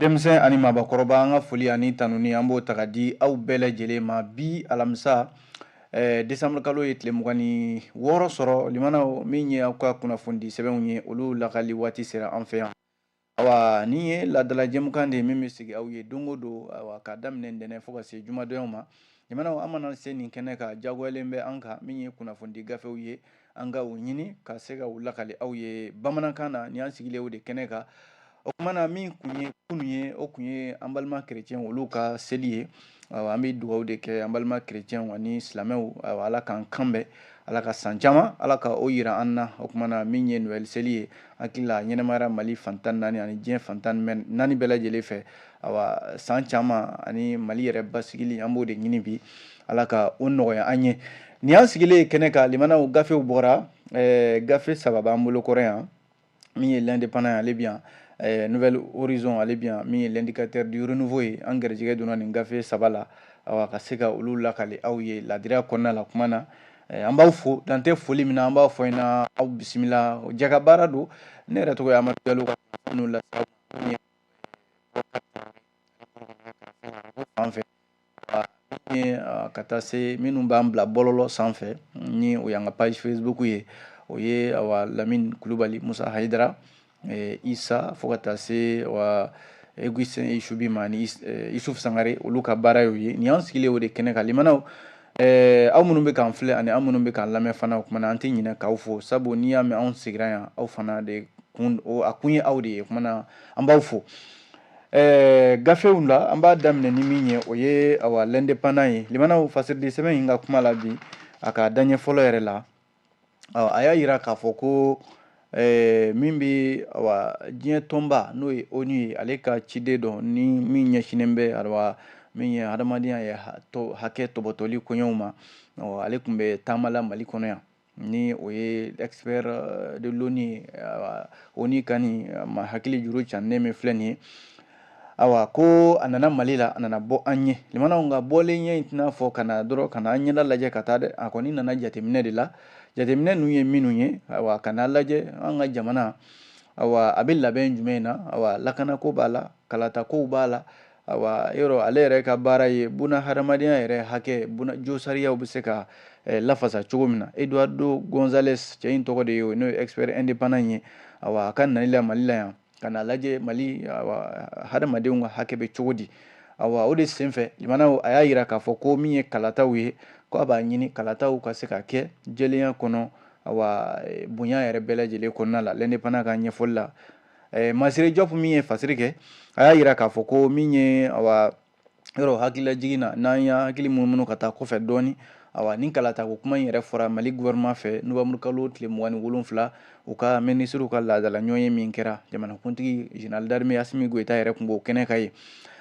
denmisɛn ani mabakɔrɔba an ka foli ani tanuni an b'o ta ka di aw bɛɛ lajɛlen ma bi alamisa eh, desanburu kalo ye tile mugan ni wɔɔrɔ sɔrɔ limanaw min ye aw ka kunnafoni di sɛbɛnw ye olu lakali waati sera an fɛ yan Awa nin ye laadala jɛmukan de ye min bɛ sigi aw ye don o don awa k'a daminɛ ntɛnɛn fo ka se jumadonyaw ma jamana an mana se nin kɛnɛ kan jagoyalen bɛ an kan min ye kunnafonidi gafew ye an ka u ɲini ka se ka u lakali aw ye bamanankan na ni an sigilen o de kɛnɛ kan o tuma na min tun ye kunun ye o tun ye an balima kerecɛn olu ka seli ye an bɛ dugawu de kɛ an balima kerecɛnw ani silamɛw ala k'an kanbɛn ala ka san caman ala ka o yira an na o tuma na min ye Noël seli ye hakili la ɲɛnamayara mali fan tan naani ani diɲɛ fan tan naani bɛɛ lajɛlen fɛ awa san caman ani mali yɛrɛ basigili an b'o de ɲini bi ala ka o nɔgɔya an ye ni an sigilen kɛnɛ kan limanaw gafew bɔra gafe saba b'an bolo kɔrɔ yan min ye l'indépendant ale bi yan eh, nouvel horizon ale bi yan min ye l'indicateur du renouveau ye an garijɛgɛ donna nin gafe saba la awa ka se ka olu lakali aw ye ladiriya kɔnɔna la kuma na eh, an b'aw fo dan tɛ foli min na an b'a fɔ ina aw bisimila jɛkabaara don ne yɛrɛ tɔgɔ ye amadu jalo ka n'u lase aw fan fɛ ka taa se minnu b'an bila bɔlɔlɔ sanfɛ ni o y'an ka page Facebook ye o ye awa lamini kulubali musa hayidara isa fo ka taa se esubi ma ni isufu sangare olu ka baara y'o ye ni an sigilen o de kɛnɛ kan limanaw aw minnu bɛ k'an filɛ ani aw minnu bɛ k'an lamɛn fana o tuma na an tɛ ɲinɛ k'aw fo sabu n'i y'a mɛn anw sigira yan aw fana de a kun ye aw de ye o tuma na an b'aw fo gafew la an b'a daminɛ ni min ye o ye awa l'indépendant ye limanaw fasiridi sɛbɛn in ka kuma la bi a ka daɲɛ fɔlɔ yɛrɛ la a y'a yira k'a fɔ ko min bɛ awa diɲɛ tɔnba n'o ye onu ye ale ka ciden dɔ ni min ɲɛsinnen bɛ awa min ye hadamadenya ye hakɛ tɔbɔtɔli koɲɛw ma ale tun bɛ taama la mali kɔnɔ yan ni o ye expert de l'onu ye onu ka nin hakili juru ca ne min filɛ nin ye ayiwa ko a nana mali la a nana bɔ an ye limanaw nka bɔlen ɲɛ in tɛna fɔ ka na dɔrɔn ka na an ɲɛda lajɛ ka taa dɛ a kɔni nana jateminɛ de la jateminɛ ninnu ye minnu ye ayiwa ka na lajɛ an ka jamana a bɛ labɛn jumɛn na lakanako b'a la kalatako b'a la Ayiwa yɔrɔ ale yɛrɛ ka baara ye buna hadamadenya yɛrɛ hakɛ josariyaw bɛ se ka eh, lafasa cogo min na Eduardo Gonzalez cɛ in tɔgɔ de ye o n'o ye expert indépendant in ye awa a ka nali la Mali la yan ka na lajɛ Mali awa hadamadenw ka hakɛ bɛ cogo di awa o de senfɛ limanaw a y'a yira k'a fɔ ko min ye kalataw ye ko a b'a ɲini kalataw ka se ka kɛ jɛlenya kɔnɔ awa eh, bonya yɛrɛ bɛɛ lajɛlen kɔnɔna la l'indépendant ka ɲɛfɔli la masire diop min ye fasiri kɛ a y'a yira k'a fɔ ko min ye yɔrɔ hakililajigin na n'an y'an hakili munumunu ka taa kɔfɛ dɔɔnin ayiwa nin kalatako kuma in yɛrɛ fɔra mali gouvernement fɛ novembre kalo tile mugan ni wolonfila u ka minisiriw ka laadala ɲɔgɔnye min kɛra jamanakuntigi général d'armée assimi goïta yɛrɛ tun b'o kɛnɛ kan ye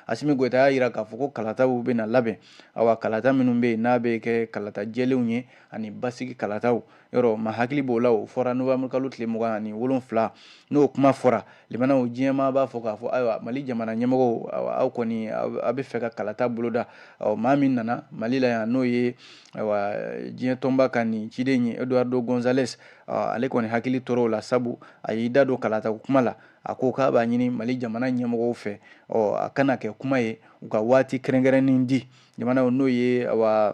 assimi goïta y'a yira k'a fɔ ko kalataw bɛna labɛn awa kalata minnu bɛ yen n'a bɛ kɛ kalata jɛlenw ye ani basigi kalataw yɔrɔ maa hakili b'o la o fɔra novembre kalo tile mugan ani wolonfila n'o kuma fɔra limanaw diɲɛmaa b'a fɔ k'a fɔ ayiwa mali jamana ɲɛmɔgɔw aw kɔni a bɛ fɛ ka kalata boloda ɔ maa min nana mali la yan n'o ye ayiwa diɲɛ tɔnba ka nin ciden ye eduardo gonzales ale kɔni hakili tora o la sabu a y'i da don kalata kuma la a ko k'a b'a ɲini mali jamana ɲɛmɔgɔw fɛ ɔ a kana kɛ kuma ye u ka waati kɛrɛnkɛrɛnnen di jamanaw n'o ye awa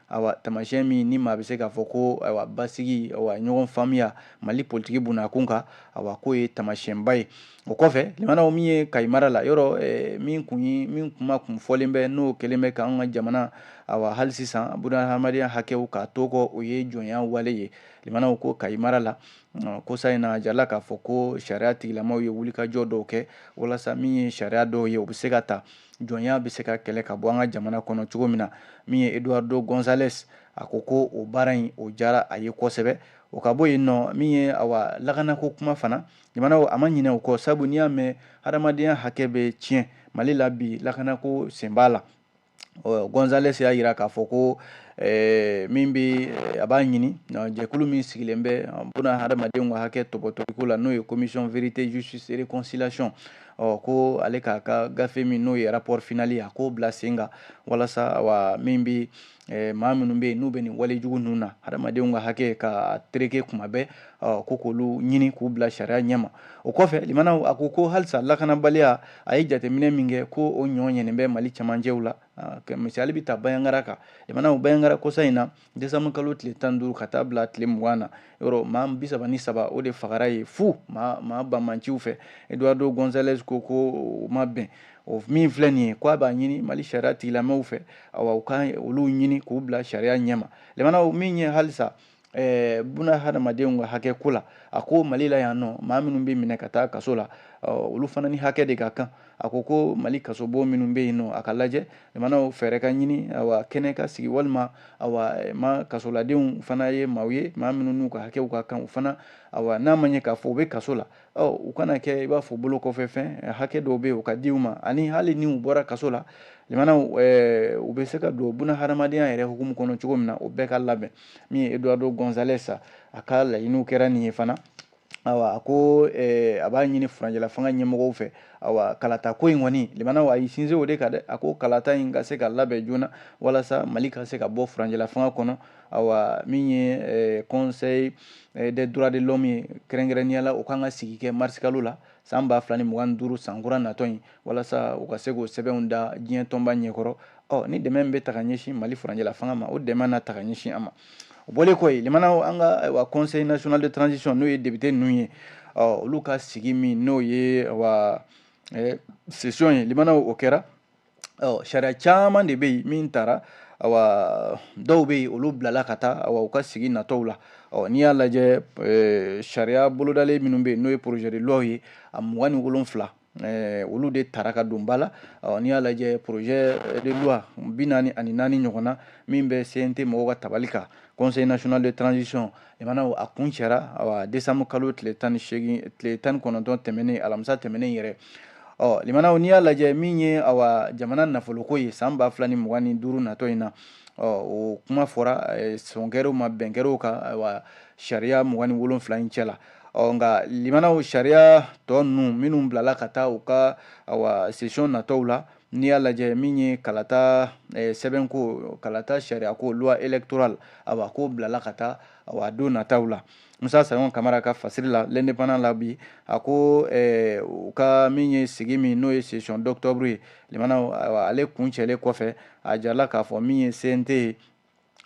awa tamasiyɛn min ni maa bɛ se k'a fɔ ko awa basigi awa ɲɔgɔn faamuya mali politiki bunnakun kan awa k'o ye tamasiyɛnba ye o kɔfɛ limanaw min ye kayi mara la yɔrɔ eh, min kun ye min kuma kun fɔlen bɛ n'o kɛlen bɛ k'an ka jamana awa hali sisan buna hadamadenya hakɛw k'a to kɔ o ye jɔnya wale ye limanaw ko kayi mara la kosa in na a jirala k'a fɔ ko sariya tigilamaw ye wulikajɔ dɔw kɛ walasa min ye sariya dɔw ye o bɛ se ka ta jɔnya bɛ se ka kɛlɛ ka bɔ an ka jamana kɔnɔ cogo min na min ye eduardo gonzales a ko ko o baara in o jara a ye kosɛbɛ o ka bɔ yen nɔ min ye awa lakanako kuma fana jamanaw a ma ɲinɛ o kɔ sabu n'i y'a mɛn hadamadenya hakɛ bɛ tiɲɛ mali la bi lakanako sen b'a la gonzales y'a yira k'a fɔ ko Eh, min bɛ eh, a b'a ɲini jɛkulu min sigilen bɛ buna hadamadenw ka hakɛ tɔbɔtɔliko la n'o ye commission vérité justice et réconciliation ɔ ko ale k'a ka gafe min n'o ye rapport final ye a k'o bila sen kan walasa wa min bɛ eh, maa minnu bɛ yen n'u bɛ nin wale jugu ninnu na hadamadenw ka hakɛ ka tereke kuma bɛɛ ɔ ko k'olu ɲini k'u bila sariya ɲɛma o kɔfɛ limanaw a ko ko halisa lakanabaliya a ye jateminɛ min kɛ ko o ɲɔ ɲɛnen bɛ mali cɛmancɛw la misali bɛ ta bandiagara kan limanaw bandiagara kosa in na décembre kalo tile tan ni duuru ka taa bila tile mugan na yɔrɔ maa bi saba ni saba o de fagara ye fu maa maa banbaanciw fɛ eduardo gonzalez ko ko o ma bɛn o min filɛ nin ye ko a b'a ɲini mali sariya tigilamɛw fɛ awa u ka olu ɲini k'u bila sariya ɲɛma limanaw min ye halisa eh, buna hadamadenw ka hakɛ ko la a ko mali la yan nɔ maa minnu bɛ minɛ ka taa kaso la olu fana ni hakɛ de ka kan a ko ko mali kasobon minnu bɛ yen nɔ a ka lajɛ limanaw fɛɛrɛ ka ɲini awa kɛnɛ ka sigi walima awa eh, ma kasoladenw fana ye maaw ye maa minnu n'u ka hakɛw ka kan u fana awa n'a ma ɲɛ k'a fɔ u bɛ kaso la ɔ u kana kɛ i b'a fɔ bolo kɔfɛ fɛn eh, hakɛ dɔw bɛ yen u ka di u ma ani hali ni u bɔra kaso la limanaw eh, u bɛ se ka don buna hadamadenya yɛrɛ hukumu kɔnɔ cogo min na o bɛɛ ka labɛn min ye eduardo gonzales a ka laɲiniw kɛra nin ye fana awa a ko eh, a b'a ɲini furanjɛla fanga ɲɛmɔgɔw fɛ awa kalata ko in kɔni limanaw a y'i sinsin o de kan dɛ a ko kalata in ka se ka labɛn joona walasa mali ka se ka bɔ furanjɛla fanga kɔnɔ awa min ye eh, conseil eh, des droits de l'homme ye kɛrɛnkɛrɛnnenya la o kan ka sigi kɛ mars kalo la san ba fila ni mugan duuru san kura natɔ in walasa u ka se k'o sɛbɛnw da diɲɛ tɔnba ɲɛkɔrɔ ɔ ni dɛmɛ bɛ ta ka ɲɛsin mali furancɛla fanga ma o dɛmɛ na ta ka ɲɛsin a ma o bɔlen kɔ yen limanaw an ka wa conseil national de transition n'o ye député ninnu ye ɔ olu ka sigi min n'o ye wa session ye limanaw o kɛra ɔ sariya caman de bɛ yen min tara awa dɔw bɛ yen olu bilala ka taa awa u ka sigi natɔw la ɔ n'i y'a lajɛ eh, sariya bolodalen minnu bɛ yen n'o ye projet de loi ye a mugan ni wolonfila eh, olu de tara ka don ba la ɔ n'i y'a lajɛ projet de loi bi naani ani naani ɲɔgɔn na min bɛ CNT mɔgɔw ka tabali kan conseil national de transition limanaw a kuncɛra décembre kalo tile tan kɔnɔntɔn tɛmɛnen alamisa tɛmɛnen yɛrɛ ɔ limanaw n'i y'a lajɛ min ye jamana nafoloko ye san ba fila ni mugan ni duuru natɔ in na ɔ o kuma fɔra sɔn kɛra a ma bɛn kɛra o kan sariya mugan ni wolonwula in cɛ la ɔ nka limanaw sariya tɔ ninnu minnu bilala ka taa u ka session natɔw la n'i y'a lajɛ min ye kalata eh, sɛbɛnko kalata sariyako loi électorale awa k'o bilala ka taa awa don nataw la musa sayɔn kamara ka fasiri la l'indépendant la bi a ko eh, u ka min ye sigi min n'o ye session d'octobre ye limanaw awa ale kuncɛlen kɔfɛ a jarala k'a fɔ min ye cnt ye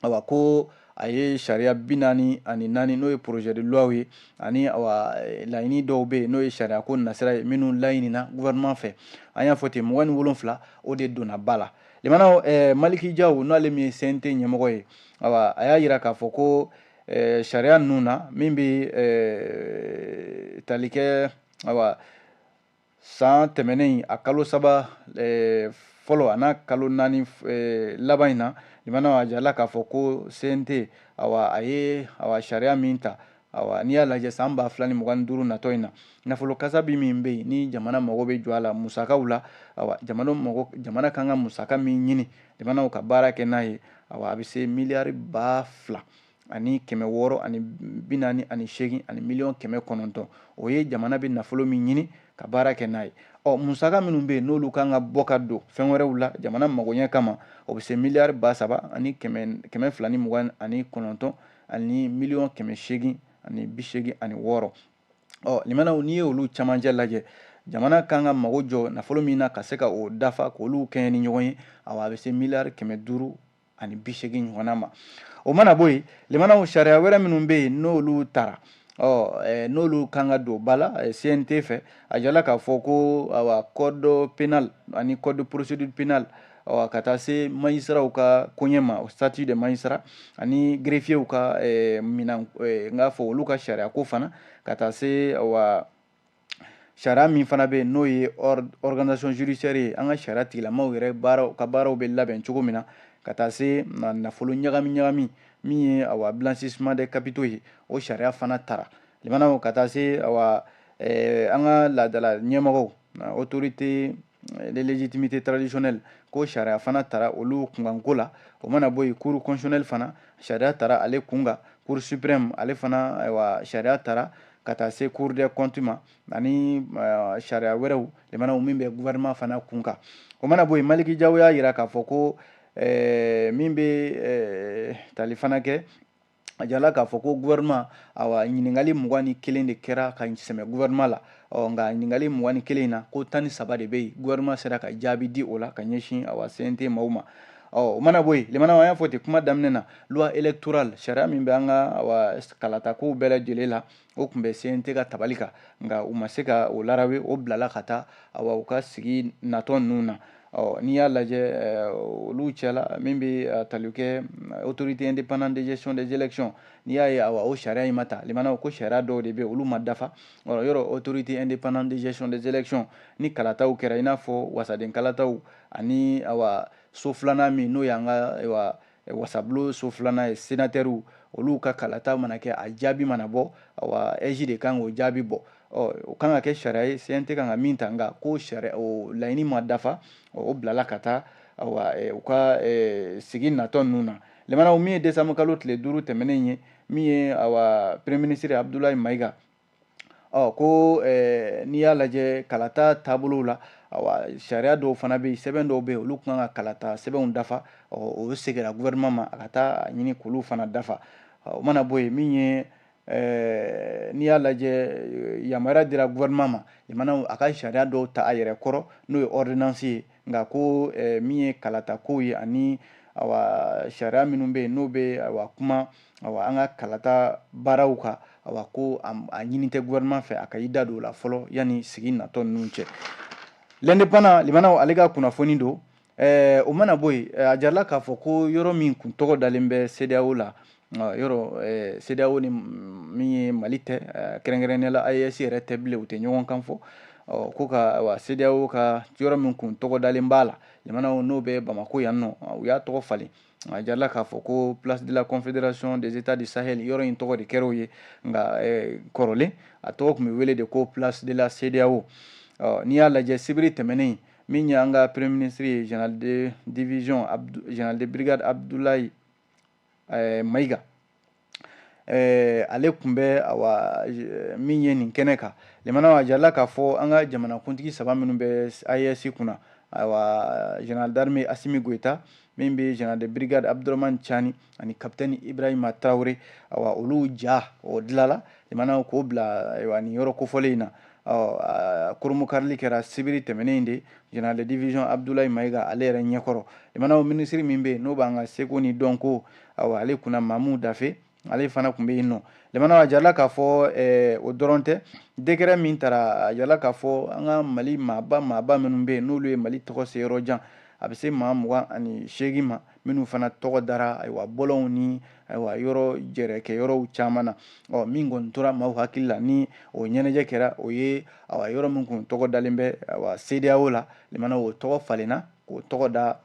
awa ko a ye sariya bi naani ani naani n'o ye projet de loi ye ani awa eh, laɲini dɔw bɛ yen n'o ye sariya ko nasira ye minnu laɲinina gouvernement fɛ an y'a fɔ ten mugan ni wolonfila o de donna ba la limanaw eh, maliki jaw n'ale min ye cnt ɲɛmɔgɔ ye awa a y'a yira k'a fɔ ko eh, sariya ninnu na min bɛ eh, tali kɛ awa san tɛmɛnen a kalo saba eh, fɔlɔ an'a kalo naani eh, laban in na limanaw a jarala k'a fɔ ko cnt awa a ye awa sariya min ta awa n'i y'a lajɛ san ba fila ni mugan ni duuru natɔ in na nafolo kasabi min bɛ yen ni jamana mago bɛ jɔ a la musakaw la awa jamana kan ka musaka min ɲini limanaw ka baara kɛ n'a ye awa a bɛ se miliyari ba fila ani kɛmɛ wɔɔrɔ ani bi naani ani seegin ani miliyɔn kɛmɛ kɔnɔntɔn o ye jamana bɛ nafolo min ɲini ka baara kɛ n'a ye ɔ musaka minnu bɛ yen n'olu kan ka bɔ ka don fɛn wɛrɛw la jamana magoɲɛ kama o bɛ se miliyari ba saba ani kɛmɛ fila ni mugan ani kɔnɔntɔn ani miliyɔn kɛmɛ seegin ani bi seegin ani wɔɔrɔ ɔ limana n'i ye olu camancɛ lajɛ jamana kan ka mago jɔ nafolo min na ka se ka o dafa k'olu kɛɲɛ ni ɲɔgɔn ye awa a bɛ se miliyari kɛmɛ duuru ani bi seegin ɲɔgɔnna ma o mana bɔ yen limana sariya wɛrɛ minnu bɛ yen n'olu tara ɔ n'olu kan ka don ba la cnt fɛ a jala k'a fɔ ko awa code pénal ani code procédure pénale awa ka taa se magistratw ka koɲɛ ma statut de magistrat ani greffierw ka minɛn n k'a fɔ olu ka sariya ko fana ka taa se awa sariya min fana bɛ yen n'o ye organisation judiciaire ye an ka sariya tigilamaw yɛrɛ baaraw ka baaraw bɛ labɛn cogo min na ka taa se nafolo ɲagami ɲagami min ye awa blanchissement des capitaux ye o sariya fana tara limana ka taa se awa eh, an ka laadala ɲɛmɔgɔw autorité et légitimités traditionnelles ko sariya fana tara olu kunkanko la o mana bɔ yen cour constitutionnelle fana sariya tara ale kun kan cour suprême ale fana ayiwa sariya tara ka taa se cour des comptes ma ani eh, sariya wɛrɛw limana min bɛ gouvernement fana kun kan o mana bɔ yen maliki jaw y'a jira k'a fɔ ko eh, min bɛ eh, tali fana kɛ a jala k'a fɔ ko gouvernement awa ɲininkali mugan ni kelen de kɛra ka sɛmɛ gouvernement la ɔ nka ɲininkali mugan ni kelen in na ko tan ni saba de bɛ yen gouvernement sera ka jaabi di o la ka ɲɛsin awa cnt maaw ma ɔ o mana bɔ yen limana an y'a fɔ ten kuma daminɛ na loi électorale sariya min bɛ an ka awa kalatakow bɛɛ lajɛlen la o tun bɛ CNT ka tabali kan nka u ma se ka o larawe o bilala ka taa awa u ka sigi natɔ ninnu na ɔ n'i y'a lajɛ eh, olu cɛla min bɛ eh, tali kɛ eh, autorité indépendante de gestion des élections n'i y'a ye awa o sariya in ma ta limana ko sariya dɔw de bɛ olu ma dafa ɔ yɔrɔ autorité indépendante de gestion des élections ni kalataw kɛra i n'a fɔ wasaden kalataw ani awa so filanan min n'o y'an ka ayiwa wasabulon so filanan ye senatɛriw olu ka kalata mana kɛ a jaabi mana bɔ awa aige de kan k'o jaabi bɔ ɔ o kan ka kɛ sariya ye cnt kan ka min ta nka ko sariya o laɲini ma dafa o bilala ka taa awa u ka sigi natɔ ninnu na limana min ye décembre kalo tile duuru tɛmɛnen ye min ye awa premier ministre abudulayi mayiga ɔ ko n'i y'a lajɛ kalata taabolow la awa sariya dɔw fana bɛ yen sɛbɛn dɔw bɛ yen olu kan ka kalata sɛbɛnw dafa o seginna gouvernement ma a ka taa a ɲini k'olu fana dafa o mana bɔ yen min ye n'i y'a lajɛ yamaruya dira gouvernement ma limana a ka sariya dɔw ta a yɛrɛ kɔrɔ n'o ye ordonnance ye nka ko eh, min ye kalata kow ye ani awa sariya minnu bɛ yen n'o bɛ awa kuma awa an ka kalata baaraw kan awa ko a ɲini tɛ gouvernement fɛ a ka i da don o la fɔlɔ yanni sigi natɔ ninnu cɛ l'Indépendant limanaw ale ka kunnafoni don eh, o mana bɔ yen eh, a jarala k'a fɔ ko yɔrɔ min kun tɔgɔ dalen bɛ CEDEAO la yɔrɔ CEDEAO ni min ye mali tɛ kɛrɛnkɛrɛnnenya la AES yɛrɛ tɛ bilen u tɛ ɲɔgɔn kan fɔ ko ka CEDEAO ka yɔrɔ min kun tɔgɔ dalen b'a la limana n'o bɛ bamakɔ yan nɔ u y'a tɔgɔ falen a jarala k'a fɔ ko place de la confédération des états du Sahel yɔrɔ in tɔgɔ de kɛra o ye nka kɔrɔlen a tɔgɔ tun bɛ wele de ko place de la CEDEAO n'i y'a lajɛ sibiri tɛmɛnen min ye an ka premier ministre ye général de division général de brigade Abdoulaye ɛɛ mayiga ɛɛ ale tun bɛ awa min ye nin kɛnɛ kan limana a jarala k'a fɔ an ka jamanakuntigi saba minnu bɛ AES kunna awa général d'armée Assimi Goïta min bɛ général de brigade Abdourahmane Tiani ani capitaine Ibrahima Traoré awa olu ja o dilanla limana k'o bila nin yɔrɔ kofɔlen in na kurunbonkarili kɛra sibiri tɛmɛnen de général de division Abdoulaye Mayiga ale yɛrɛ ɲɛkɔrɔ limanaw ministre min bɛ yen n'o b'an ka seko ni dɔnko awa ale kunna mamu dafe ale fana tun bɛ yen nɔ limana a jala k'a fɔ eh, o dɔrɔn tɛ décret min tara a jala k'a fɔ an ka mali maaba maaba minnu bɛ yen n'olu ye mali tɔgɔ se yɔrɔ jan a bɛ se maa mugan ani seegin ma minnu fana tɔgɔ dara ayiwa bɔlɔnw ni ayiwa yɔrɔ jɛrɛkɛ yɔrɔw caman na ɔ min kɔni tora maaw hakili la ni o ɲɛnajɛ kɛra o ye awa yɔrɔ min kun tɔgɔ dalen bɛ awa CEDEAO la limana o tɔgɔ falenna k'o tɔgɔ da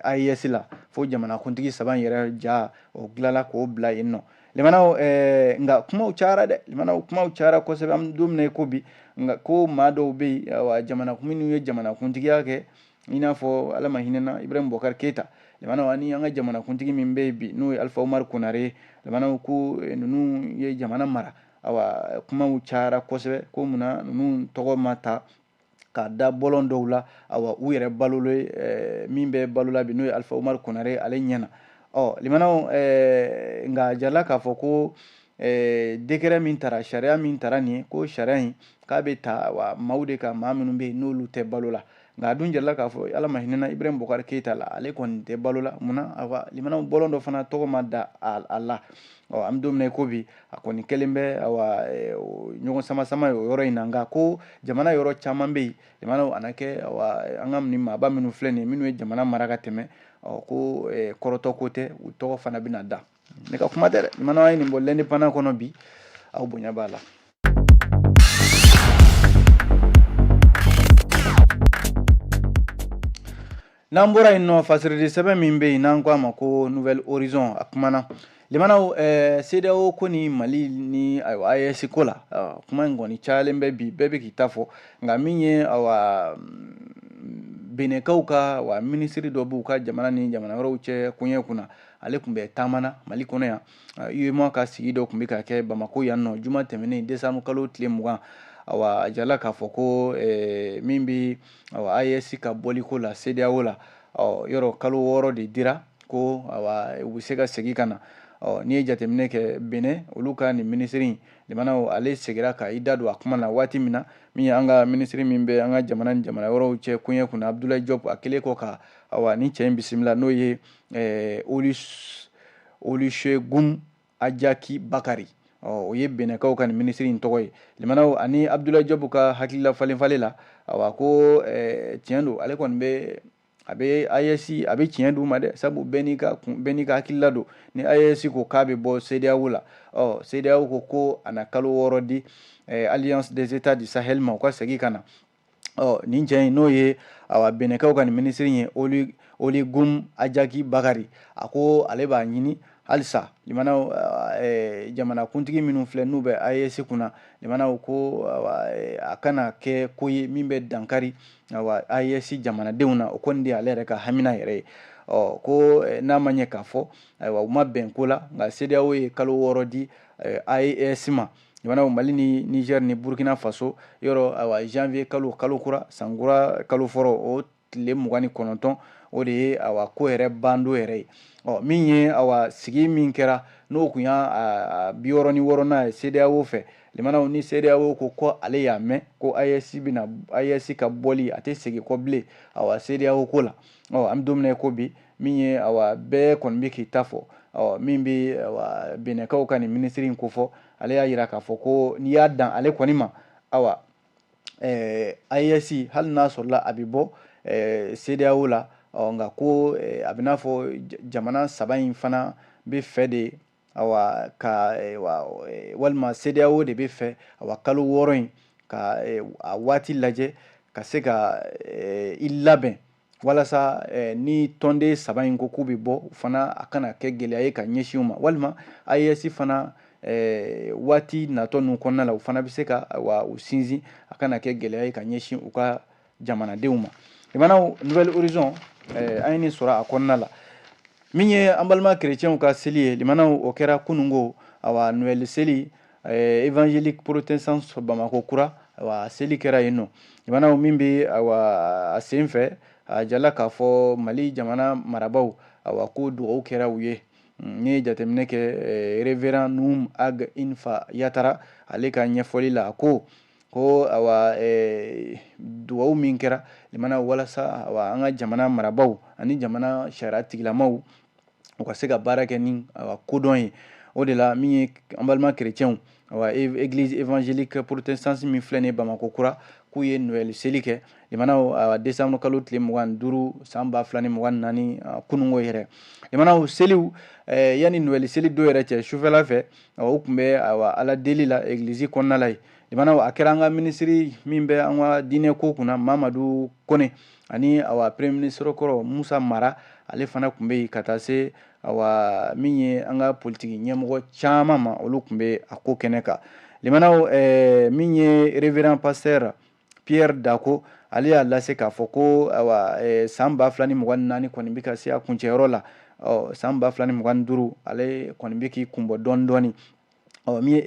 AES la fo jamanakuntigi saba in yɛrɛ ja o dilala k'o bila yen nɔ limanaw nka kumaw cayara dɛ limanaw kumaw cayara kosɛbɛ an bɛ don min na i ko bi nka ko maa dɔw bɛ yen awa minnu ye jamanakuntigiya kɛ i n'a fɔ ala ma hinɛna Ibrahim Boubacar Keita limanaw ani an ka jamanakuntigi min bɛ yen bi n'o ye alifa umaru konare ye limanaw ko eh, ninnu ye jamana mara awa kumaw cayara kosɛbɛ ko munna ninnu tɔgɔ ma ta k'a da bɔlɔn dɔw la awa u yɛrɛ balolen ye eh, min bɛ balo la bi n'o ye alifa umaru konare ale ɲɛna ɔ limanaw eh, nka jarala k'a fɔ ko eh, décret min tara sariya min tara nin ye ko sariya in k'a bɛ ta wa maaw de kan maa minnu bɛ yen n'olu tɛ balo la nka a dun jarala k'a fɔ ala ma hinɛna Ibrahim Boubacar Keita la ale kɔni tɛ balo la munna awa limanaw bɔlɔn dɔ fana tɔgɔ ma da a la ɔ an bɛ don min na i ko bi a kɔni kɛlen bɛ awa eh, ɲɔgɔn sama sama ye o yɔrɔ in na nka ko jamana yɔrɔ caman bɛ yen limanaw a na kɛ awa an ka nin maaba minnu filɛ nin ye minnu ye jamana mara ka tɛmɛ ɔ ko eh, kɔrɔtɔ ko tɛ u tɔgɔ fana bɛna da ne ka kuma tɛ dɛ limanaw an ye nin bɔ l'indépendant kɔnɔ bi aw bonya b'a la n'an bɔra yen nɔ fasiridi sɛbɛn min bɛ yen n'an ko a ma ko nouvel horizon a kumana limanaw eh, CEDEAO ko ni mali ni ayiwa AES ko la uh, kuma in kɔni cayalen bɛ bi bɛɛ bɛ k'i ta fɔ nka min ye awa benekaw ka wa minisiri dɔ b'u ka jamana ni jamana wɛrɛw cɛ koɲɛ kunna ale tun bɛ taamana mali kɔnɔ yan UEMOA ka sigi dɔ tun bɛ ka kɛ bamakɔ yan nɔ juma tɛmɛnen décembre kalo tile mugan awa a jirala k'a fɔ ko eh, min bɛ awa AES ka bɔliko la CEDEAO la ɔ yɔrɔ kalo wɔɔrɔ de dira ko awa u bɛ se ka segin ka na ɔ n'i ye jateminɛ kɛ Benin olu ka nin minisiri in limanaw ale segira ka i da don a kuma na waati min na min ye an ka minisiri min bɛ an ka jamana ni jamana wɛrɛw cɛ koɲɛ kunna Abdoulaye Diop a kɛlen kɔ ka awa ni cɛ in bisimila n'o ye eh, Olusegun ajaki bakari o ye bɛnɛkaw ka nin minisiri in tɔgɔ ye limanaw ani Abdoulaye Diop ka hakilila falenfalen la awa ko eh, tiɲɛ don ale kɔni bɛ a bɛ AES a bɛ tiɲɛ d'u ma dɛ sabu bɛɛ n'i ka kun bɛɛ n'i ka hakilila don ni AES ko k'a bɛ bɔ CEDEAO la ɔ CEDEAO ko ko a na kalo wɔɔrɔ di eh, alliance des états du sahel ma u ka segin ka na ɔ nin cɛ in n'o ye awa bɛnɛkaw ka nin minisiri ye oli oli gum ajaki bakari a ko ale b'a ɲini halisa jamana eh, jamana kuntigi minnu filɛ n'u bɛ AES kunna limanaw ko eh, a kana kɛ ko ye min bɛ dankari awa AES jamanadenw na o kɔni de ale yɛrɛ ka hamina yɛrɛ ye ɔ ko eh, n'a ma ɲɛ k'a fɔ ayiwa u ma bɛn ko la nka CEDEAO ye kalo wɔɔrɔ di AES ma limanaw mali ni niger ni burkina faso yɔrɔ awa janvier kalo kalo kura san kura kalo fɔlɔ o tile mugan ni kɔnɔntɔn o de ye awa ko yɛrɛ ban don yɛrɛ ye ɔ min ye awa sigi min kɛra n'o kun y'a bi wɔɔrɔ ni wɔɔrɔnan ye CEDEAO fɛ limanaw ni CEDEAO ko ko ale y'a mɛn ko a bɛ AES ka bɔli a tɛ segin kɔ bilen awa CEDEAO ko la ɔ an bɛ don min na ko bi min ye awa bɛɛ kɔni bɛ k'i ta fɔ ɔ min bɛ benɛkaw ka nin minisiri in kofɔ ale y'a jira k'a fɔ ko n'i y'a dan ale kɔni ma awa AES hali n'a sɔrɔla a bɛ bɔ CEDEAO la ɔ nka ko a bɛ n'a fɔ jamana saba in fana bɛ fɛ de awa ka eh, eh, walima CEDEAO de bɛ fɛ awa kalo wɔɔrɔ in ka eh, a waati lajɛ ka se ka i labɛn walasa ni tɔnden saba in ko k'u bɛ bɔ u fana a kana kɛ gɛlɛya ye ka ɲɛsin u ma walima AES fana waati natɔ ninnu kɔnɔna la u fana bɛ se ka awa u sinsin a kana kɛ gɛlɛya ye ka ɲɛsin u ka jamanadenw ma limanaw nouvel horizon eh, an ye nin sɔrɔ a kɔnɔna la min ye an balima kerecɛnw ka seli ye limanaw o kɛra kunungo awa noɛl seli eh, évangélique protestante bamakɔ kura awa seli kɛra yen nɔ limanaw min bɛ awa a sen fɛ a jala k'a fɔ mali jamana marabaw awa ko dugawu kɛra u ye n'i ye jateminɛ kɛ eh, révérend num ag infa yatara ale ka ɲɛfɔli la ko ko awa eh, dugawu min kɛra limanaw walasa awa an ka jamana marabaw ani jamana sariya tigilamaw u ka se ka baara kɛ ni awa kodɔn ye o de la min ye an balima kerecɛnw awa église évangélique protestante min filɛ nin ye bamakɔ kura k'u ye noɛl seli kɛ limanaw awa décembre kalo tile mugan ni duuru san ba fila ni mugan naani kunungo yɛrɛ limanaw seliw eh, yanni noɛl seli don yɛrɛ cɛ sufɛla fɛ awa u tun bɛ awa ala deli la église kɔnɔna la ye limanaw a kɛra an ka minisiri min bɛ an ka diinɛ ko kunna mamadu kɔnɛ ani awa premier ministre kɔrɔ musa mara ale fana tun bɛ yen ka taa se awa min ye an ka politigi ɲɛmɔgɔ caman ma olu tun bɛ a ko kɛnɛ kan limanaw min ye révérend pasteur pierre dako ale y'a lase k'a fɔ ko san ba fila ni mugan naani kɔni bɛ ka se a kuncɛyɔrɔ la ɔ san ba fila ni mugan duuru ale kɔni bɛ k'i kunbɔ dɔɔni dɔɔni ɔ min ye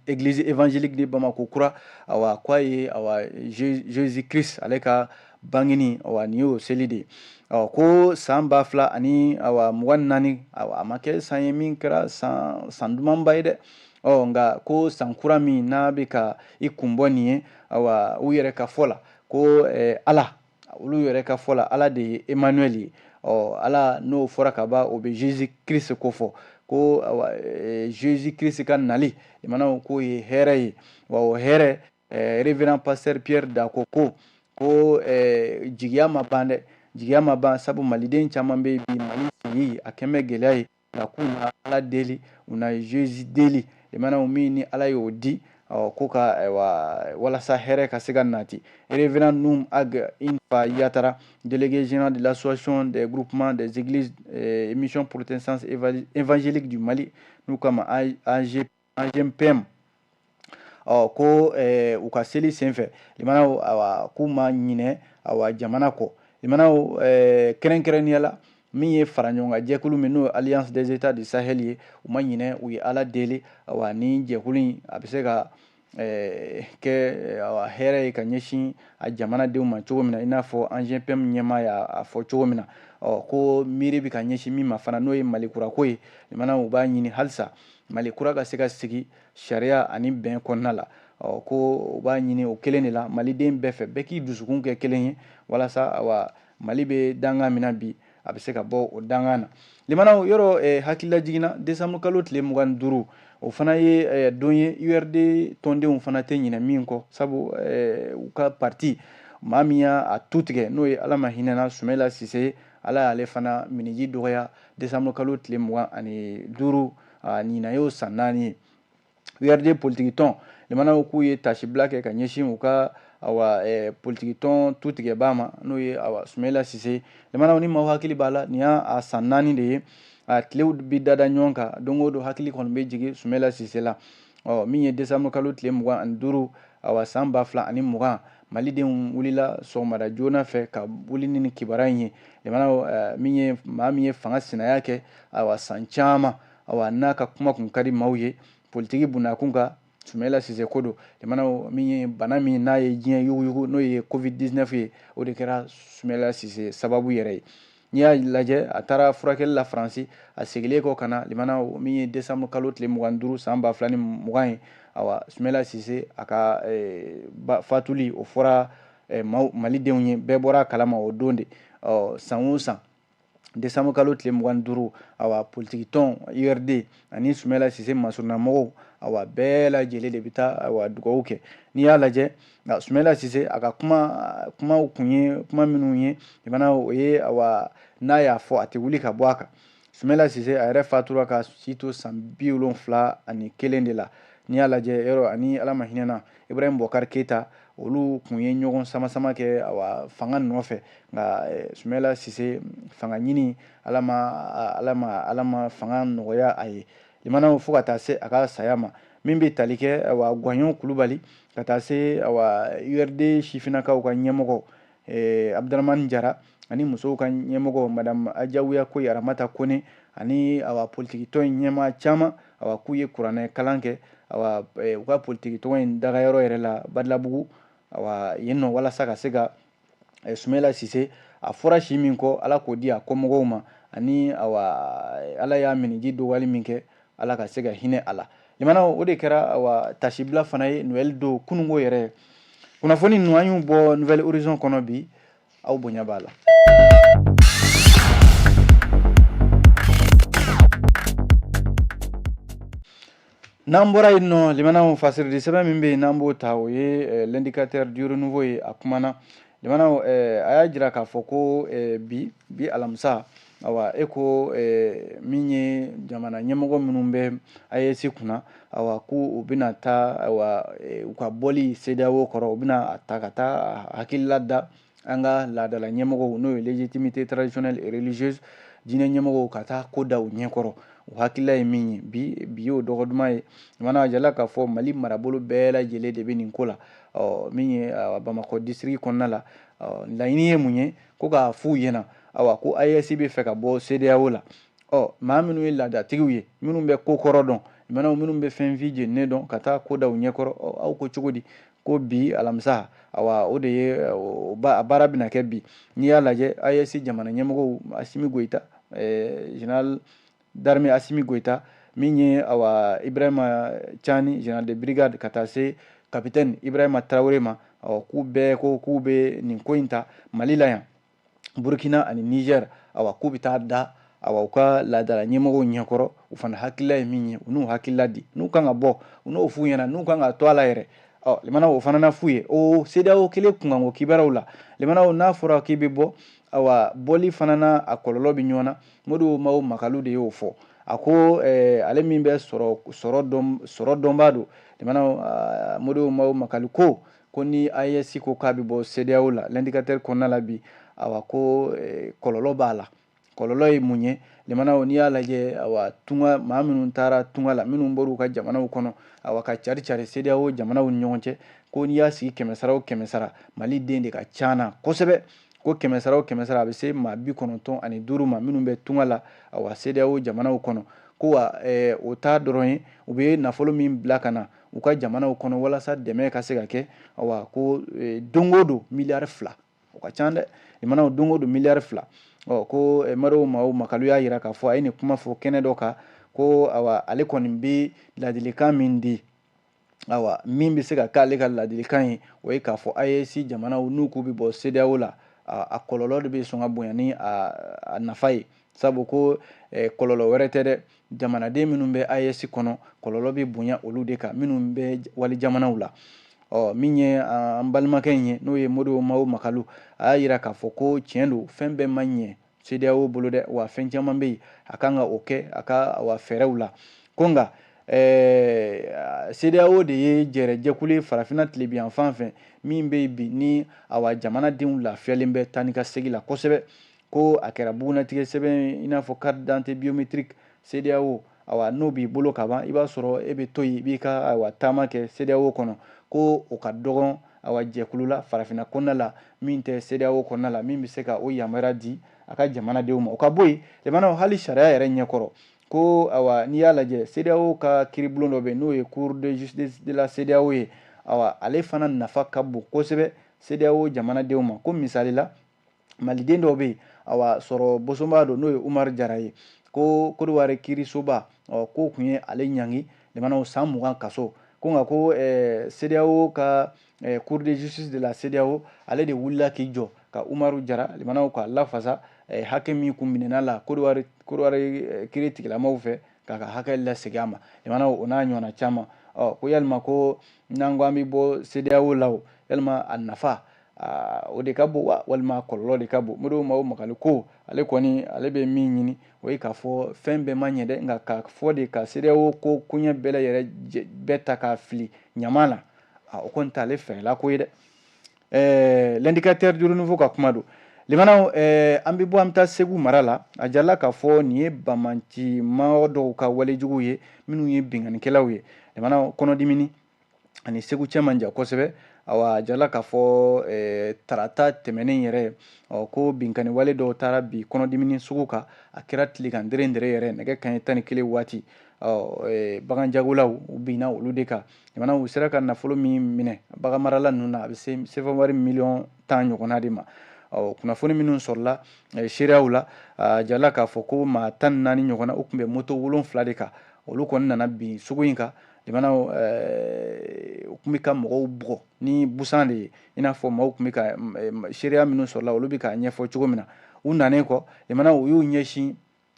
église évangélique de Bamako kura awa k'a ye awa Jésus Christ ale ka bangini awa nin y'o seli de ɔ ko san ba fila ani awa mugan naani awa a ma kɛ san ye min kɛra san dumanba ye dɛ ɔ nka ko san kura min n'a bɛ ka i kunbɔ nin ye awa u yɛrɛ ka fɔ la ko eh, ala olu yɛrɛ ka fɔ la ala de ye emmanuel ye ɔ ala n'o fɔra ka ban o bɛ jesus christ ko fɔ ko eh, jesus christ ka nali limanaw k'o ye hɛrɛ ye wa o hɛrɛ eh, révérend pasteur pierre dako ko ko eh, jigiya ma ban dɛ jigiya ma ban sabu maliden caman bɛ bi mali sigi a kɛlen bɛ gɛlɛya ye nka ko na ala deli u na zezi deli mana min ni ala y'o di ko ka walasa hɛrɛ ka se ka nati erfin ninnu a infa yatara delielege zina de lasion de guruk dezgmisiyɔn porote san efanzeli di mali n'u kama anze agempem ɔ ko eh, u ka seli senfɛ limanaw awa k'u ma ɲinɛ awa jamana kɔ limanaw eh, kɛrɛnkɛrɛnnenya la min ye fara ɲɔgɔn kan jɛkulu min n'o ye alliance des états du sahel ye u ma ɲinɛ u ye ala deli awa ni jɛkulu in a bɛ se ka eh, kɛ awa hɛrɛ ye ka ɲɛsin a jamanadenw ma cogo min na i n'a fɔ agempem ɲɛmaa y'a fɔ cogo min na ɔ ko miiri bɛ ka ɲɛsin min ma fana n'o ye mali kura ko ye limanaw u b'a ɲini halisa mali kura ka se ka sigi sariya ani bɛn kɔnɔna la ɔ ko u b'a ɲini o kelen de la maliden bɛɛ fɛ bɛɛ k'i dusukun kɛ kelen ye walasa awa mali bɛ danga min na bi a bɛ se ka bɔ o danga na limanaw yɔrɔ eh, hakilila jiginna desanburu kalo tile mugan ni duuru o fana ye eh, don ye urd tɔndenw fana tɛ ɲinɛ min kɔ sabu eh, u ka parti maa min y'a tu tigɛ n'o ye ala ma hinɛna sumela sise ala y'ale fana miniji dɔgɔya desanburu kalo tile mugan ani duuru ɲinan y'o san naani ye URD politikitɔn limanaw k'u ye tasibila kɛ ka ɲɛsin u ka awa eh, politikitɔn tu tigɛbaa ma n'o ye awa sumela sise limanaw ni maaw hakili b'a la nin y'a san naani de ye a tilew bi dada ɲɔgɔn kan don o don hakili kɔni bɛ jigin sumela sise la ɔ min ye desanburu kalo tile mugan ani duuru awa san ba fila ani mugan malidenw wulila sɔgɔmada joona fɛ ka wuli ni nin kibaruya in ye limanaw eh, min ye maa min ye fanga sinaya kɛ awa san caman awa n'a ka kuma kun ka di maaw ye politiki bundakun kan sumela sise ko don limanaw min ye bana min n'a ye diɲɛ yuguyugu n'o ye covid 19 ye o de kɛra sumela sise sababu yɛrɛ ye n'i y'a lajɛ a taara furakɛli la faransi a segilen kɔ ka na limanaw min ye desanburu kalo tile mugan duuru san ba fila ni mugan ye awa sumela sise a ka eh, fatuli o fɔra eh, malidenw ye bɛɛ bɔra a kalama o don de ɔ san o san desanburu kalo tile mugan duuru awa politiki tɔn urd ani sumela sise masurunamɔgɔw awa bɛɛ lajɛlen de bɛ taa awa dugawu kɛ n'i y'a lajɛ nka sumela sise a ka kuma kumaw kun ye kuma minnu ye limanaw o ye awa n'a y'a fɔ a tɛ wuli ka bɔ a kan sumela sise a yɛrɛ fatura ka si to san bi wolonfila ani kelen de la n'i y'a lajɛ yɔrɔ ani ala ma hinɛ na ibrahim bubakari keyita olu kun ye ɲɔgɔn samasama kɛ awa fanga nɔfɛ nka eh, sumela sise fanga ɲini ala ma ala ma ala ma fanga nɔgɔya a ye limanaw fo ka taa se a ka saya ma min bɛ tali kɛ awa gwaɲɔn kulubali ka taa se urd sifinnakaw ka ɲɛmɔgɔ eh, abudramani jara ani musow ka ɲɛmɔgɔ madame ajawiyakoyi aramata kone ani awa politikitɔn in ɲɛmaa caman awa k'u ye kuranɛ kalan kɛ awa eh, u ka politikitɔn in dagayɔrɔ yɛrɛ la badalabugu awa yen nɔ walasa ka se ka eh, sumela sise a fɔra si min kɔ ala k'o di a kɔmɔgɔw ma ani awa eh, ala y'a miniji dɔgɔyali min kɛ ala ka se ka hinɛ a la limanaw o de kɛra awa tasibila fana ye noɛl don kunungo yɛrɛ kunnafoni ninnu an y'u bɔ nouvelle horizon kɔnɔ bi aw bonya b'a la N'an bɔra yen nɔ limanaw fasirili sɛbɛn min bɛ yen n'an b'o ta o ye l'indicateur du renouveau ye a kumana limanaw a y'a jira k'a fɔ ko bi bi alamisa awa e ko min ye jamana ɲɛmɔgɔ minnu bɛ AES kunna awa ko u bɛna taa u ka bɔli CEDEAO kɔrɔ u bɛna a ta ka taa hakilila da an ka laadala ɲɛmɔgɔw n'o ye légitimité traditionnelle et religieuse diinɛ ɲɛmɔgɔw ka taa ko da u ɲɛkɔrɔ o hakilila ye min ye bi bi y'o dɔgɔ duman ye limanaw a jirala k'a fɔ mali marabolo bɛɛ lajɛlen de bɛ nin ko la ɔ min ye bamakɔ disiriki kɔnɔna la laɲini ye mun ye ko k'a f'u ɲɛna awa ko AES bɛ fɛ ka bɔ CEDEAO la ɔ maa minnu ye laadatigiw ye minnu bɛ ko kɔrɔ dɔn minnu bɛ finfin jeninen dɔn ka taa ko da u ɲɛkɔrɔ aw ko cogo di ko bi alamisa awa o de ye a baara bɛna kɛ bi n'i y'a lajɛ AES jamana ɲɛmɔgɔw asimi goyita général d'armée asimi goyita min ye awa ibrahima cani général de brigade ka taa se kapitɛni ibrahima tarawele ma awa k'u bɛɛ ko k'u bɛ nin ko in ta mali la yan burukina ani nizɛr awa k'u bɛ taa da awa u ka laadala ɲɛmɔgɔw ɲɛkɔrɔ u fana hakilila ye min ye u n'u hakilila di n'u kan ka bɔ u n'o f'u ɲɛna n'u kan ka to a la yɛrɛ ɔ limanaw o fana na f'u ye o CEDEAO kelen kunkanko kibaruyaw la limanaw n'a fɔra k'i bɛ bɔ awa bɔli fana na a kɔlɔlɔ bɛ ɲɔgɔn na modibo mawo makalu de y'o fɔ a ko eh, ale min bɛ sɔrɔ sɔrɔ dɔn sɔrɔ dɔnbaa don limanaw ah, modibo mawo makalu ko ko ni AES ko k'a bɛ bɔ CEDEAO la l'indicateur kɔnɔna la bi awa ko eh, kɔlɔlɔ b'a la kɔlɔlɔ ye mun ye limanaw n'i y'a lajɛ awa tunga maa minnu taara tunga la minnu bɔr'u ka jamanaw kɔnɔ awa ka cari cari CEDEAO jamanaw ni ɲɔgɔn cɛ ko n'i y'a sigi kɛmɛsara o kɛmɛsara maliden de ka can na kosɛbɛ ko kɛmɛsara o kɛmɛsara a bɛ se maa bi kɔnɔntɔn ani duuru ma minnu bɛ tunga la awa CEDEAO jamanaw kɔnɔ ko wa eh, o t'a dɔrɔn ye u bɛ nafolo min bila ka na u ka jamanaw kɔnɔ walasa dɛmɛ ka se ka kɛ awa ko e, don o don miliyari fila o ka ca dɛ limanaw don o don miliyari fila ɔ ko e, modibo mawo makalu y'a yira k'a fɔ a ye nin kuma fɔ kɛnɛ dɔ kan ko awa ale kɔni bɛ ladilikan min di awa min bɛ se ka k'ale ka ladilikan ye o ye k'a fɔ AES jamanaw n'u k'u bɛ bɔ CEDEAO la a kɔlɔlɔ de bɛ sɔn ka bonya ni a nafa ye sabu ko e, kɔlɔlɔ wɛrɛ tɛ dɛ jamanaden minnu bɛ AES kɔnɔ kɔlɔlɔ bɛ bonya olu de kan minnu bɛ wali jamanaw la ɔ min ye an balimakɛ in ye n'o ye Modibo Mao Makalu a y'a yira k'a fɔ ko tiɲɛ don fɛn bɛɛ ma ɲɛ CEDEAO bolo dɛ wa fɛn caman bɛ yen a kan ka o kɛ a ka awa fɛɛrɛw la ko nka ɛɛ CEDEAO de ye jɛrɛ jɛkulu ye farafinna tilebinyanfan fɛ min bɛ yen bi ni awa jamanadenw lafiyalen bɛ taa ni ka segin la kosɛbɛ ko a kɛra bugunnatigɛ sɛbɛn i n'a fɔ carte d'identité biométrique CEDEAO awa n'o b'i bolo ka ban i b'a sɔrɔ e bɛ to yen i b'i ka awa taama kɛ CEDEAO kɔnɔ ko o ka dɔgɔn awa jɛkulu la farafinna kɔnɔna la min tɛ CEDEAO kɔnɔna la min bɛ se ka o yamaruya di a ka jamanadenw ma o ka bɔ yen lamɛnnaw hali sariya yɛrɛ ɲɛkɔrɔ ko awa n'i y'a lajɛ CEDEAO ka kiiribulon dɔ bɛ yen n'o ye Cour de justice de la CEDEAO ye awa ale fana nafa ka bon kosɛbɛ CEDEAO jamanadenw ma ko misali la maliden dɔ bɛ yen awa sɔrɔ bosonba don n'o ye umaru jara ye ko kodiwari kiirisoba k'o tun ye ale ɲangi lamɛnnaw san mugan kaso ko nka ko eh, CEDEAO ka eh, Cour de justice de la CEDEAO ale de wulila k'i jɔ ka Umaru Jara lamɛnnaw ka lafasa eh, hakɛ min kun minɛn'a la Kodowari Kodowari eh, kiiri tigilamaaw fɛ k'a ka hakɛ lasegin a ma lamɛnnaw o n'a ɲɔgɔnna caman ɔ ko yalima ko n'an ko an bɛ bɔ CEDEAO la o yalima a nafa o de ka bon wa walima kɔlɔlɔ de ka bon Modibo Mao Makalu ko ale kɔni ale bɛ min ɲini o ye k'a fɔ fɛn bɛɛ ma ɲɛ dɛ nka k'a fɔ de ka CEDEAO ko koɲɛ bɛɛ yɛrɛ bɛɛ ta k'a fili ɲama na o kɔni t'ale fɛla ko ye dɛ ɛɛ l'indicateur du renouveau ka kuma don lamɛnnaw an bɛ bɔ an bɛ taa segu mara la a jirala k'a fɔ nin ye banbaanci maa dɔw ka walejugu ye minnu ye binkannikɛlaw ye kɔnɔdimini ani segu cɛ man jan kosɛbɛ awa a jirala k'a fɔ eh, tarata tɛmɛnen yɛrɛ ɔ ko binkanni wale dɔw taara bin kɔnɔdimini sugu kan a kɛra tilegan dɛrɛ dɛrɛ yɛrɛ nɛgɛ kanɲɛ tan ni kelen waati ɔ eh, bagan jagolaw u binna olu de kan lamɛnnaw u sera ka nafolo min minɛ bagan marala ninnu na a bɛ se sefa wari miliyɔn tan ɲɔgɔnna de ma ɔ kunnafoni minnu sɔrɔla eh, seereyaw la a jirala k'a fɔ ko maa tan ni naani ɲɔgɔnna u tun bɛ moto wolonfila de kan olu kɔni nana bin sugu in kan lamɛnnaw eh, u tun bɛ ka mɔgɔw bugɔ ni busan de ye i n'a fɔ maaw tun bɛ ka eh, seereya minnu sɔrɔla olu bɛ k'a ɲɛfɔ cogo min na u nanen kɔ lamɛnnaw u y'u ɲɛsin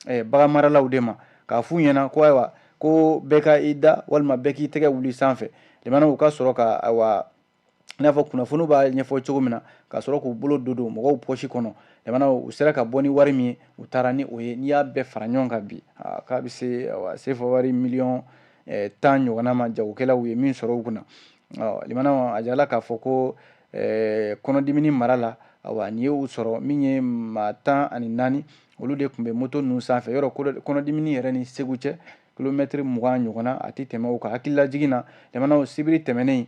eh, bagan maralaw de ma k'a f'u ɲɛna ko ayiwa ko bɛɛ ka i da walima bɛɛ k'i tɛgɛ wuli sanfɛ lamɛnnaw u ka sɔrɔ ka ayiwa i n'a fɔ kunnafoni b'a ɲɛfɔ cogo min na ka sɔrɔ k'u bolo don don mɔgɔw pɔsi kɔnɔ lamɛnnaw u sera ka bɔ ni wari min ye u taara ni o ye n'i y'a bɛɛ fara ɲɔgɔn kan bi k'a bɛ se sefa wari miliyɔn eh, tan ɲɔgɔnna ma jagokɛlaw ye min sɔrɔ u kunna lamɛnnaw a jirala k'a fɔ ko eh, kɔnɔdimini mara la awa nin ye u sɔrɔ min ye maa tan ani naani olu de tun bɛ moto ninnu sanfɛ yɔrɔ kɔnɔdimini yɛrɛ ni segu cɛ kilomɛtiri mugan ɲɔgɔnna a tɛ tɛmɛ o kan hakililajigin na lamɛnnaw sibiri tɛmɛnen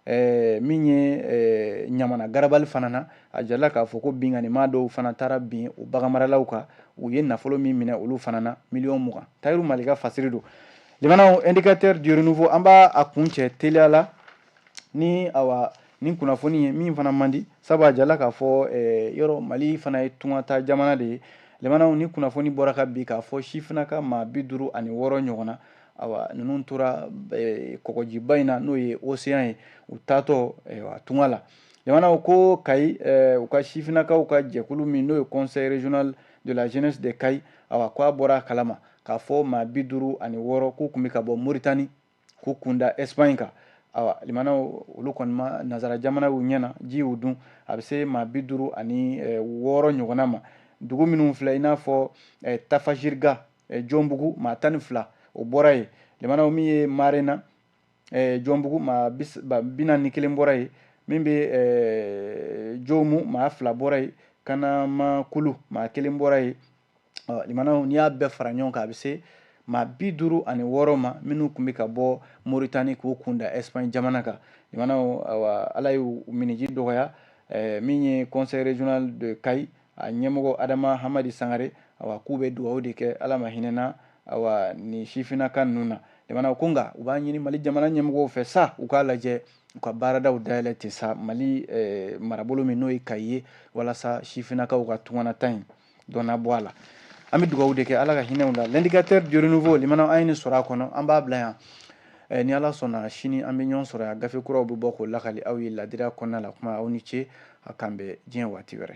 eh, min ye eh, ɲamana garabali fana na a jirala k'a fɔ ko binkannimaa dɔw fana taara bin o baganmaralaw kan u ye nafolo min minɛ olu fana na miliyɔn mugan tayiru malika fasiri don lamɛnnaw indicateur du renouveau an b'a kuncɛ teliya la ni awa nin kunnafoni ye min fana man di sabu a jirala k'a fɔ eh, yɔrɔ mali fana ye tungata jamana de ye lemanaw ni kunnafoni bɔra ka bi k'a fɔ sifinnaka maa bi duuru ani wɔɔrɔ ɲɔgɔn na awa ninnu tora eh, kɔgɔjiba in na n'o ye oseyan ye u taatɔ eh, a tunga la lemanaw ko kayi eh, u ka sifinakaw ka jɛkulu min n'o ye conseil régional de la jeunesse de kayi awa ko a bɔra a kalama k'a fɔ maa bi duuru ani wɔɔrɔ k'u tun bɛ ka bɔ moritani k'u kun da espagne kan awa limanaw olu kɔni ma nazara jamana y'u ɲɛ na ji y'u dun a bɛ se maa bi duuru ani eh, wɔɔrɔ ɲɔgɔnna ma dugu minnu filɛ i n'a fɔ eh, tafajiriga eh, jɔnbugu maa tan ni fila o bɔra yen limanaw min ye marena jɔnbugu maa bi naani ni kelen bɔra yen min bɛ jomu maa fila bɔra yen kanamakulu maa kelen bɔra yen limanaw n'i y'a bɛɛ fara ɲɔgɔn kan a bɛ se maa bi duuru ani wɔɔrɔ ma minnu tun bɛ ka bɔ moritani k'u kun da ɛsipaɲi jamana kan limanaw ala y'u miniji dɔgɔya eh, min ye conseil régional de kayi a ɲɛmɔgɔ adama hamadi sangare awa k'u bɛ dugawu de kɛ ala ma hinɛna awa nin sifinnaka ninnu na limanaw ko nka u b'a ɲini mali jamana ɲɛmɔgɔw fɛ sa u k'a lajɛ u ka baaradaw dayɛlɛ ten sa mali eh, marabolo min n'o ye kayi ye walasa sifinnakaw ka tunganata in dɔ na bɔ a la an bɛ dugawu de kɛ ala ka hinɛ u la l'indicateur du renouveau limanaw an ye nin sɔrɔ a kɔnɔ an b'a bila yan eh, ni ala sɔnna sini an bɛ ɲɔgɔn sɔrɔ yan gafe kuraw bɛ bɔ k'o lakali aw ye ladiriya kɔnɔna la kuma aw ni ce a k'an bɛn diɲɛ waati wɛrɛ